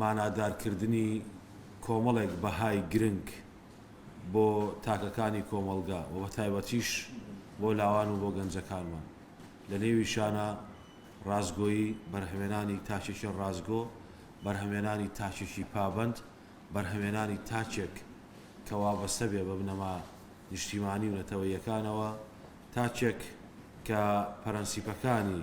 مانادارکردنی کۆمەڵێک بەهای گرنگ بۆ تاکەکانی کۆمەڵگە و بەتایبەتیش بۆ لاوان و بۆ گەنجەکانمان، لەنێویشانە ڕاستگۆیی، بەرهەمێنانی تاکێکی ڕاستگۆ، بەرهەمێنانی تاکێکی پابەند، بەرهەمێنانی تاکێک کە وابەستە بێ بە بنەما نیشتیمانی و نەتەوەییەکانەوە، تاکێک کە پرەنسیپەکانی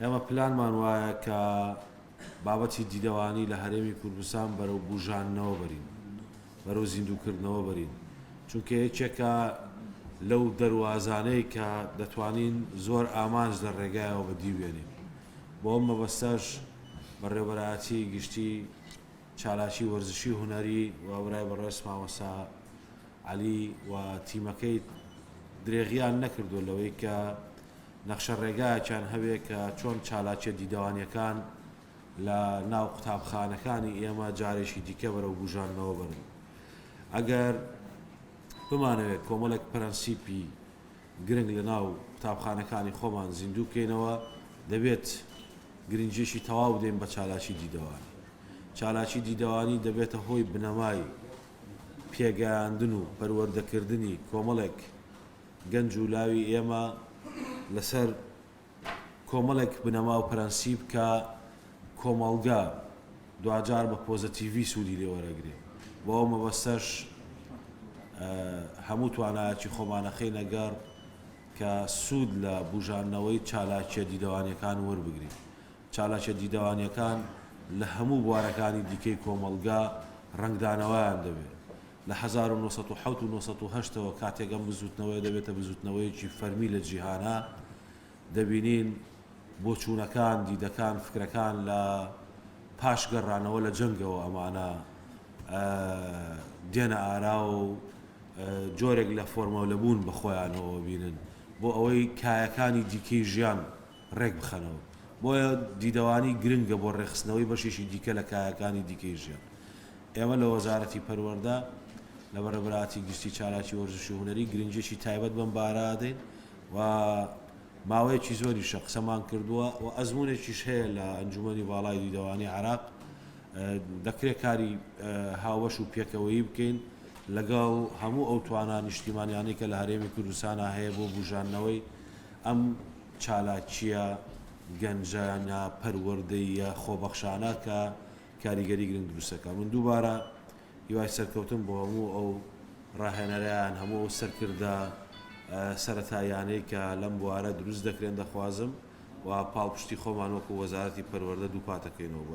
ئێمە پلانمان وایە کە بابەتی دیدەوانی لە هەرێمی کوردستان بەرەو بوژاندنەوە بەرین، بەرەو زیندووکردنەوە بەرین، چونکە یەکێکە لەو دەروازانەی کە دەتوانین زۆر ئامانج لە ڕێگایەوە بەدیبێنین، بۆ ئەم مەبەستەش بەڕێوەبەرایەتی گشتی چالاکی وەرزشی هونەری و برای بەڕێز مامۆستا عەلی و تیمەکەی درێغیان نەکردووە لەوەی کە نەخشە ڕێگایەکیان هەبێت کە چۆن چالاکیە دیدەوانیەکان لە ناو قوتابخانەکانی ئێمە جارێکی دیکە بەرەو بوژاندنەوە بەرن ئەگەر بمانەوێت کۆمەڵێک پرەنسیپی گرنگ لە ناو قوتابخانەکانی خۆمان زیندوو بکەینەوە دەبێت گرنجیشی تەواو دێن بە چالاکی دیدەوانی چالاکی دیدەوانی دەبێتە هۆی بنەمای پێگەیاندن و پەروەردەکردنی کۆمەڵێک گەنج و لاوی ئێمە لەسەر کۆمەڵێک بنەما و پرەنسیپ کە کۆمەڵگە دواجار بە پۆزەتیڤی سوودی لێ وەرەگرێ بۆ ئەو مەبەستەش هەموو توانایەکی خۆمانەخەینە گەڕ کە سوود لە بوژاندنەوەی چالاکیە دیدەوانیەکان وەربگرین چالاکیە دیدەوانیەکان لە هەموو بوارەکانی دیکەی کۆمەڵگا ڕەنگدانەوەیان دەبێت لە هەزار و نۆ سەد و حەوت و نۆ سەد و هەشت ەوە کاتێک ئەم بزووتنەوەیە دەبێتە بزووتنەوەیەکی فەرمی لە جیهانا، دەبینین بۆچوونەکان، دیدەکان، فکرەکان لە پاش گەڕانەوە لە جەنگەوە ئەمانە دێنە ئاراوە و جۆرێک لە فۆرمەلەبوون بە خۆیانەوە بینن بۆ ئەوەی کایەکانی دیکەی ژیان ڕێکبخەنەوە، بۆیە دیدەوانی گرنگە بۆ ڕێکخستنەوەی بەشێکی دیکە لە کایەکانی دیکەی ژیان. ئێمە لە وەزارەتی پەروەردە لە بەڕێبەراتی گشتی چالاکی وەرزشی و هونەری گرنگییەکی تایبەت بەم بارە ئەدەین و ماوەیەکی زۆریشە قسەمان کردووە و ئەزموونێکیش هەیە لە ئەنجوومەنی باڵای دیدەوانی عێراق دەکرێت کاری هاوبەش و پێکەوەیی بکەین لەگەڵ هەموو ئەو توانا نیشتیمانیانەی کە لە هەرێمی کوردستانە هەیە بۆ بوژاندنەوەی ئەم چالاکییە گەنجانە، پەروەردەییە، خۆبەخشانە کە کاریگەری گرنگ دروست دەکات. من دووبارە هیوای سەرکەوتن بۆ هەموو ئەو ڕاهێنەران، هەموو ئەو سەرکردە سەرەتاییانەی کە لەم بوارە دروست دەکرێن دەخوازم و پاڵپشتی خۆمان وەکو وەزارەتی پەروەردە دووپاتەکەینەوە.